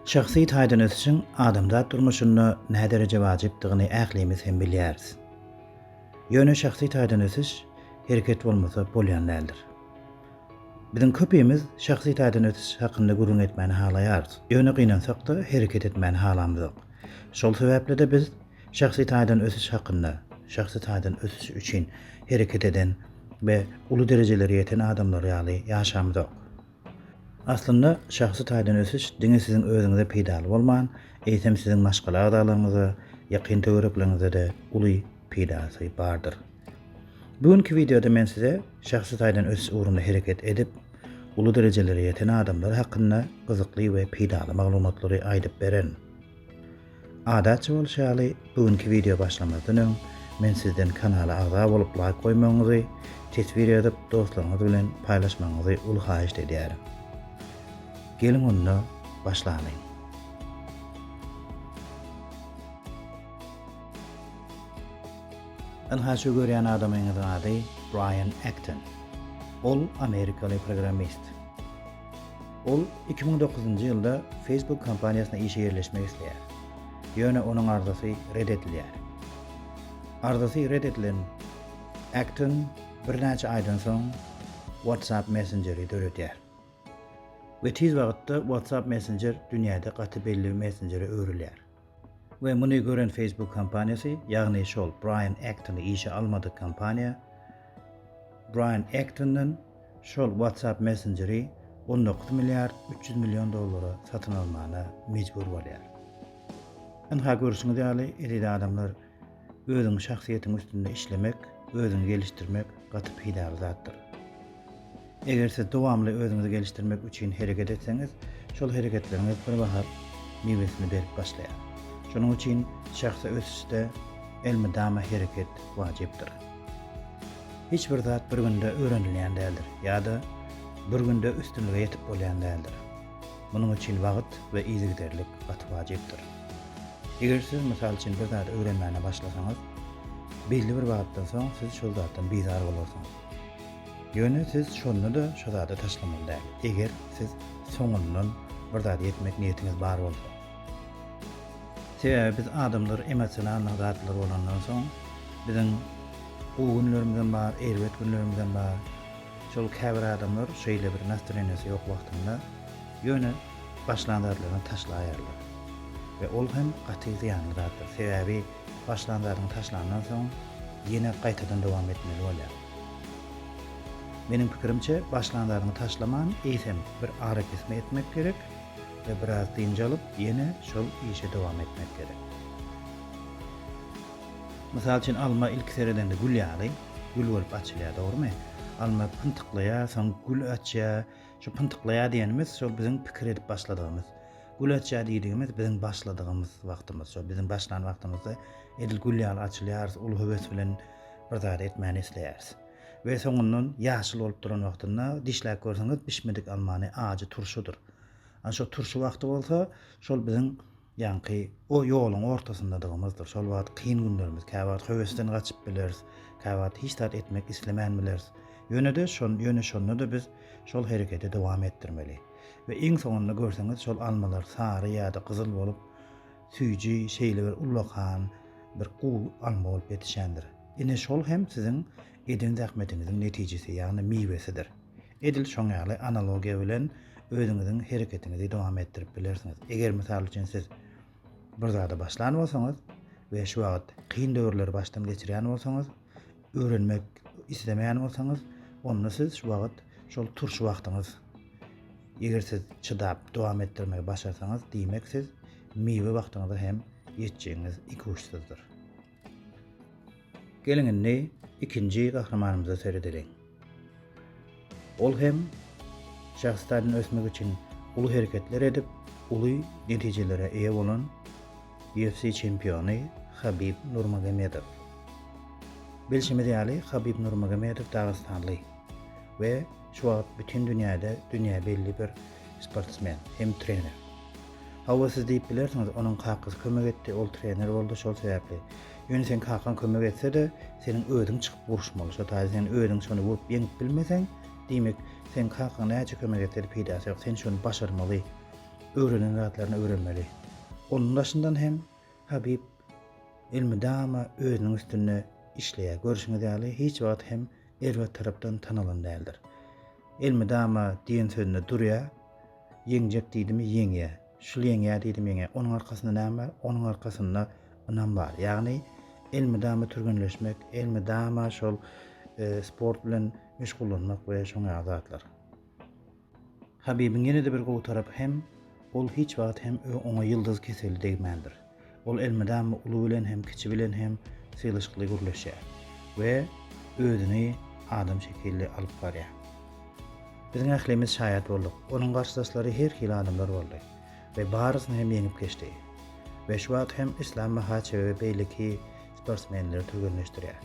Şahsy taýdan ösüşiň adamzat durmuşynda nädereje wajypdygyny ählimiz hem bilýäris. Ýöne şahsy taýdan ösüş, hereket bolmasa bolýan däldir. Biziň köpimiz şahsy taýdan ösüş hakynda gürrüň etmäni halaýarys, ýöne gynansak-da, hereket etmäni halamyzok. Şol sebäpli-de biz şahsy taýdan ösüş hakynda, şahsy taýdan ösüş üçin hereket eden we uly derejelere ýeten adamlar ýaly ýaşamyzok. Aslynda, şahsy taýdan ösüş diňe siziň özüňize peýdaly bolman, eýsem siziň maşgala agzalaryňyza, ýakyn töwerekleriňize-de uly peýdasy bardyr. Bu günki wideoda men size şahsy taýdan ösüş ugrunda hereket edip, uly derejelere ýeten adamlar hakynda gyzykly we peýdaly maglumatlary aýdyp beren. Adatça bolşy ýaly, bu günki wideo başlamazdan öň men sizden kanala agza bolup laýk goýmagyňyzy, teswir ýazyp dostlaryňyz bilen paýlaşmagyňyzy uly haýyşt edýärin. Geliň onda başlalyň. Ynha şu görýän adamyňyzyň ady Brian Acton. Ol amerikaly programmist. Ol iki müň dokuzynjy ýylda Facebook kompaniýasyna işe ýerleşmek isleýär. Ýöne onuň arzasy red edilýär. Arzasy red edilen Acton birnäçe aýdan soň WhatsApp messenjeri döredýär. We tiz wagtda WhatsApp messenjer dünýäde gaty belli messenjere öwrülýär. We muny gören Facebook kompaniýasy, ýagny şol Braýan Ektony işe almadyk kompaniýa, Braýan Ektondan şol WhatsApp messenjeri on dokuz milliard üç ýüz million dollara satyn almana mejbur bolýar. Ynha görşüňiz ýaly, eziz adamlar, Özüň şahsyýetiň üstünde işlemek, özüňi gelişdirmek gaty peýdaly zatdyr. Eger siz dowamly özüňizi gelişdirmek üçin hereket etseňiz, şol hereketleriňiz bir waghat miwesini berip başlaýar. Şonuň üçin şahsy ösüşde elmydama hereket wajypdyr. Hiç bir zat bir günde öwrenilýän däldir ýa-da bir günde üstünlige ýetip bolýan däldir. Munuň üçin wagt we yzygiderlik gaty wajypdyr. Eger siz, mysal üçin, bir zady öwrenmäne başlasaňyz, belli bir wagtdan soň siz şol zatdan bizar bolarsyňyz. Ýöne siz şonda-da şo zady taşlamaly däl, eger siz soňundan bir zada ýetmek niýetiňiz bar bolsa. Sebäbi biz adamlar emosionalnyň zatlar bolandan soň, biziň gowy günlerimizem bar, erbet günlerimizem bar. Şol käbir adamlar şeýle bir nastreniýasy ýok wagtynda ýöne başlan zatlaryny taşlaýarlar we ol hem gaty zyýanly zatdyr. Sebäbi başlan zadyňy taşlandan soň ýene gaýtadan dowam etmeli bolýar. Meniň pikirimçe başlan zadyňy taşlaman eýsem bir arakesme etmek gerek we biraz dynç alyp ýene şol işe dowam etmek gerek. Mysal üçin alma ilki seredende gül ýaly. gül bolup açylýar dogrymy? Alma pyntyklaýar, soň gül açýar. Şu pyntyklaýar diýenimiz şol biziň pikir edip başladygymyz. Gül açýar diýdigimiz biziň başladygymyz wagtymyz. Şol biziň başlan wagtymyzda edil gül ýaly açylýarys, uly höwes bilen bir zady etmäni isleýäris. We soňundan ýaşyl bolup duran wagtynda dişläp görseňiz bişmedik almany ajy turşudyr. Ana şo turşy wagty bolsa şol biziň Ýaňky o ýoluň ortasyndadygymyzdyr. Şol wagt kyn günlerimiz. Käwagt höwesden gaçyp bileris. Käwagt hiç zat etmek islemän bileris. Ýöne-de şon, ýöne şonda-da biz şol hereketi dowam etdirmeli. We iň soňunda görseňiz şol almalar sary ýa-da gyzyl bolup, süýji, şeýle bir ullakan, bir guw alma bolup ýetişendir. Ine şol hem siziň eden zähmetiňiziň netijesi, ýagny miwesidir. Edil şoň ýaly analogiýa bilen özüňiziň hereketiňizi dowam etdirip bilersiňiz. Eger mysal üçin siz bir zada başlan bolsaňyz we şu wagt kyn döwürleri başdan geçirýän bolsaňyz, öwrenmek islemeýän bolsaňyz, onda siz şu wagt şol turşy wagtyňyz. Eger siz çydap dowam etdirmegi başarsaňyz, diýmek siz miwe wagtyňyza hem ýetjegiňiz ikuçsyzdyr. Geliň indi ikinji gahrymanymyza seredeliň. Ol hem şahsy taýdan ösmek üçin uly hereketler edip, uly netijelere eýe bolan UFC çempiony Habib Nurmagomedow. Bilşimiz ýaly, Habib Nurmagomedow dagystanly we Şu wagt bütin dünýäde dünýä belli bir sportsmen hem trener. Hawa siz diýip bilersiňiz, onuň kakasy kömek etdi, ol trener boldy şol sebäpli. Ýöne seň kakaň kömek etse-de, seniň özüň çykyp uruşmaly. Şo taýda sen özüň şony urup ýeňip bilmeseň, diýmek, seň kakaň näçe kömek etse-de peýdasy ýok. Sen şony başarmaly. Öwrenen zatlaryny öwrenmeli. Onuň daşyndan hem Habib elmydama özüniň üstünde işleýär. Görşüňiz ýaly, hiç wagt hem erbet tarapdan tanalan däldir. Elmydama diýen sözünde durýar, Ýeňjek diýdimi, ýeňýär. Şul ýeňýär diýdim, ýeňýär. Onuň arkasynda näme bar? Onuň arkasynda ynam bar. Ýagny elmydama türgenleşmek, elmydama şol sport bilen meşgullanmak we şoňa ýaly zatlar. Habibiň ýene-de bir gowy tarapy hem, ol hiç wagt hem oňa ýyldyz keseli degmändir. Ol elmydama uly bilen hem, kiçi bilen hem sylaşykly gürleşýär we özüni adam şekilli alyp barýar. Biziň ählimiz şaýat bolduk, onuň garşydaşlary her hili adamlar boldy we barysyny hem ýeňip geçdi we şu wagt hem Islam Mahaçewe beýleki sportsmenleri türgenleşdirýär.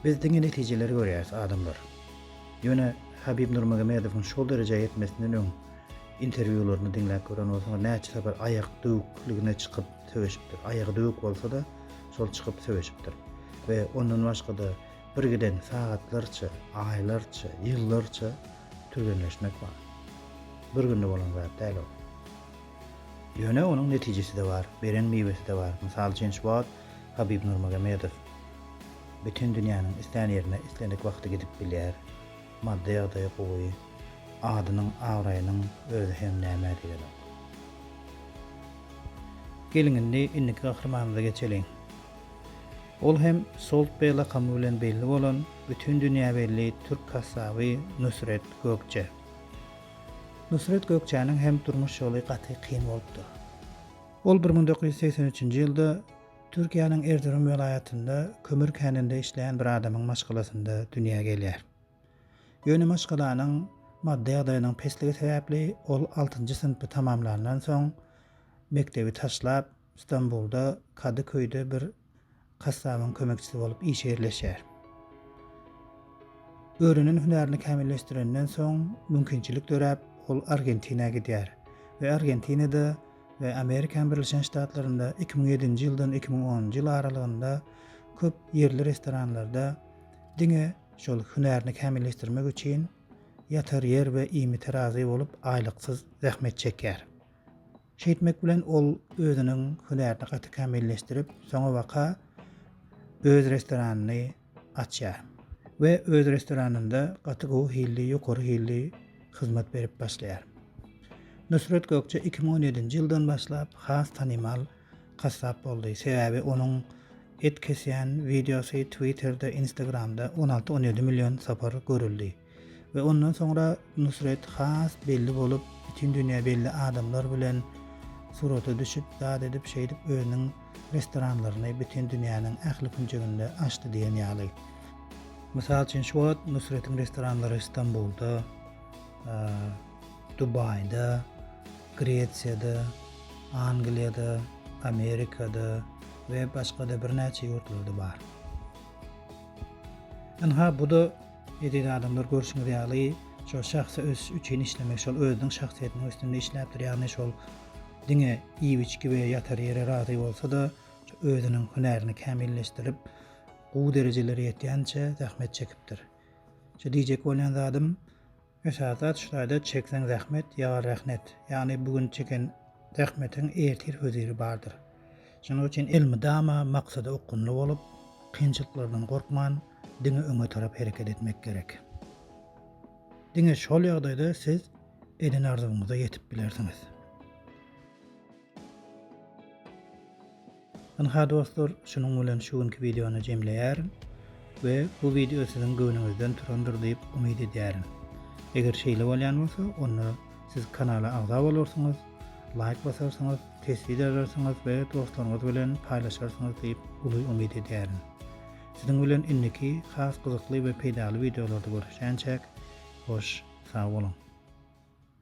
Biz diňe netijeleri görýäris adamlar. Ýöne Habib Nurmagomedowyň şol derejä ýetmesinden öň interwýularyny diňläp gören bolsaňyz näçe sapar aýak döwükligine çykyp söweşipdir. Aýagy döwük bolsada şol çykyp söweşipdir. We ondan başgada birgiden sagatlarça, aýlarça, ýyllarça türgenleşmek bar. Bir günde bolan zat däl ol. Ýöne onuň netijeside bar, beren miweside bar. Mysal üçin şu wagt Habib Nurmagomedow Bütin dünýäniň islän ýerine islendik wagty gidip bilýär. Maddy ýagdaýy gowy. Adynyň, abraýynyň özi hem nämä diýenok. Geliň indi indiki gahrymanymyza geçeliň. Ol hem Solt Beg lakamy bilen belli bolan, bütin dünýä belli türk kassaby Nusret Gökje. Nusret Gökjäniň hem durmuş ýoly gaty kyn bolupdyr. Ol bir müň dokuz ýüz segsen üçünji ýylda Türkiýäniň Erzurum welaýatynda kömür käninde işleýän bir adamyň maşgalasynda dünýä gelýär. Ýöne maşgalanyň maddy ýagdaýynyň pesligi sebäpli ol altynjy synpy tamamlandan soň mekdebi taşlap, Stambulda Kadyköýde bir kassabyň kömekçisi bolup işe ýerleşýär. Öwrenen hünärini kämilleşdirenden soň mümkinçilik döräp, ol Argentinä gidýär we Argentinada we Amerikan Birleşen Ştatlarynda iki müň ýedinji ýyldan iki müň onunjy ýyl aralygynda köp ýerli restoranlarda diňe şol hünärini kämilleşdirmek üçin ýatar ýer we iýmit terazy bolup aýlyksyz zähmet çekýär. Şeýtmek bilen ol özüniň hünärini gaty kämilleşdirip, soňabaka öz restoranyny açýar we öz restoranynda gaty gowy hilli, ýokary hilli hyzmat berip başlaýar. Nusret Gökçe iki müň on ýedinji ýyldan başlap has tanymal kassap boldy, sebäbi onuň et kesýän wideosy Twitterde, Instagramda on alty-on ýedi million sapar görüldi. We ondan soňra Nusret has belli bolup, bütin dünýä belli adamlar bilen surata düşüp, zat edip, şeýdip özüniň restoranlaryny bütin dünýäniň ähli künjeginde açdy diýen ýaly. Mysal üçin, şu wagt Nusretiň restoranlary Stambulda, Dubaýda, Gresiýada, Angliýada, Amerikada we başga-da birnäçe ýurtlarda bar. Ynha, bu-da Eziz adamlar görşüňiz ýaly şol şahsy ösüş üçin işlemek şol özüniň şahsyýetiniň üstünde işläpdir ýagny şol diňe iýip içgi we ýatar ýere razy bolsada özüniň hünärini kämilleşdirip gowy derejelere ýetýänçe zähmet çekipdir. Şu diýjek bolýan zadym Esasy zat şulaýda çekseň zähmet ýa rehnet, ýagny bu gün çeken zähmetiň ertir höziri bardyr. Şonuň üçin elmydama maksada okgunly bolup, kynçylyklardan gorkman, diňe öňe tarap hereket etmek gerek. Diňe şol ýagdaýda siz eden arzuwyňyza ýetip bilersiňiz. Ynha dostlar, şunuň bilen şu günki wideony jemleýärin we bu wideo siziň göwnüňizden turandyr diýip umyt edýärin. Eger şeýle bolýan bolsa, onda siz kanala agza bolarsyňyz, laýk basarsyňyz, teswir ýazarsyňyz we dostlaryňyz bilen paýlaşarsyňyz diýip uly umyt edýärin. Siziň bilen indiki has gyzykly we peýdaly wideolarda görüşýänçäk, hoş sag boluň!